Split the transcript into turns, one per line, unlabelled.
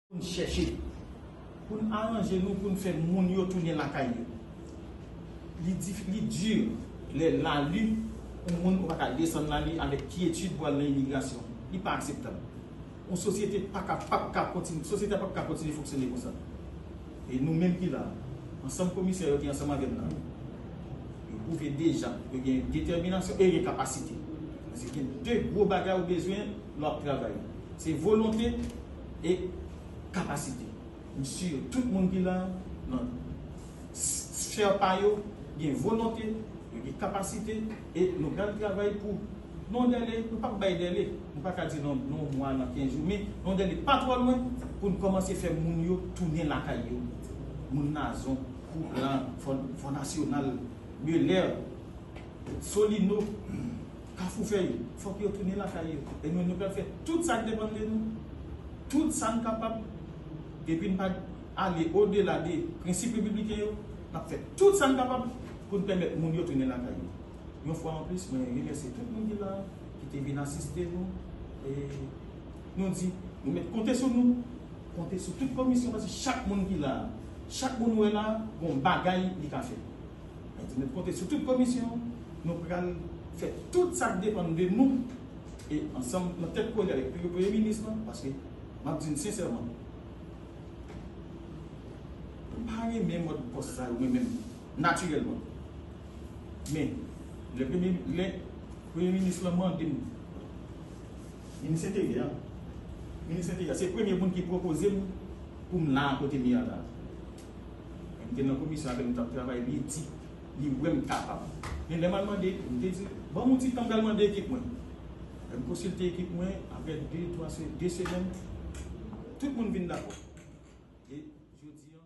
Pou n chèche pou n aranje nou pou n fè moun yo tounen lakay yo. Li difi, li dur lè lalu yon moun ou pa ka desann lalu avèk kyetid pou al nan imigrasyon. Li pa akseptab. Yon sosyete pa ka, pap ka kontinye, sosyete a pap ka kontinye fonksyone konsa. E nou menm ki la a, ansanm komisè yo ki ansanm avè m la, yo pwouve deja yo gen detèminasyon e yo gen kapasite. Paske gen 2 gwo bagay ou bezwen lè w ap travay. Se volonte. e kapasite. M sur tout moun ki la nan sphère pa yo gen volonte, yo gen kapasite e nou pral travay pou nan dèle, nou pap bay dèle, nou pa ka di nan yon mwa, nan 15 jou, men yon dèle pa twò lwen pou n kòmanse fè moun yo tounen lakay yo. Moun Nazon, Couplan, Fò Nasyonal, Belè, Solino. Kafou fè yo, fòk yo tounen lakay yo e nou nou pral fè tout sa k depann de nou, tout sa n kapab, depi n pa ale odela de prensip repibliken yo, n ap fè tout sa n kapab pou n pèmèt moun yo tounen lakay yo. Yon fwa anplis, mwen remèsye tout moun ki la a, ki te vin asiste nou e nou di nou mèt konte sou nou, konte sou tout komisyon paske chak moun ki la a, chak moun ou wè la a, gon bagay li ka fè. Mwen di nou konte sou tout komisyon an, nou pral fè tout sa k depann de nou e ansanm nan tèt kole avèk biwo premye minis lan paske m ap di n sensèman m pa renmen mòd pòs sa yo mwen menm natirèlman men lè premye minis lan mande m minis enteryè an minis enteryè an se premye moun ki pwopoze m pou m la a kote m ye a la. M te nan komisyon avè l, m t ap travay byen di. Li wè m kapab. Men lè m al mande ekip, m te di l, ban m yon ti tan m pral mande ekip mwen. Lè m konsilte ekip mwen, aprè de, twa, de semèn, tout moun vin dakò. E jodi an.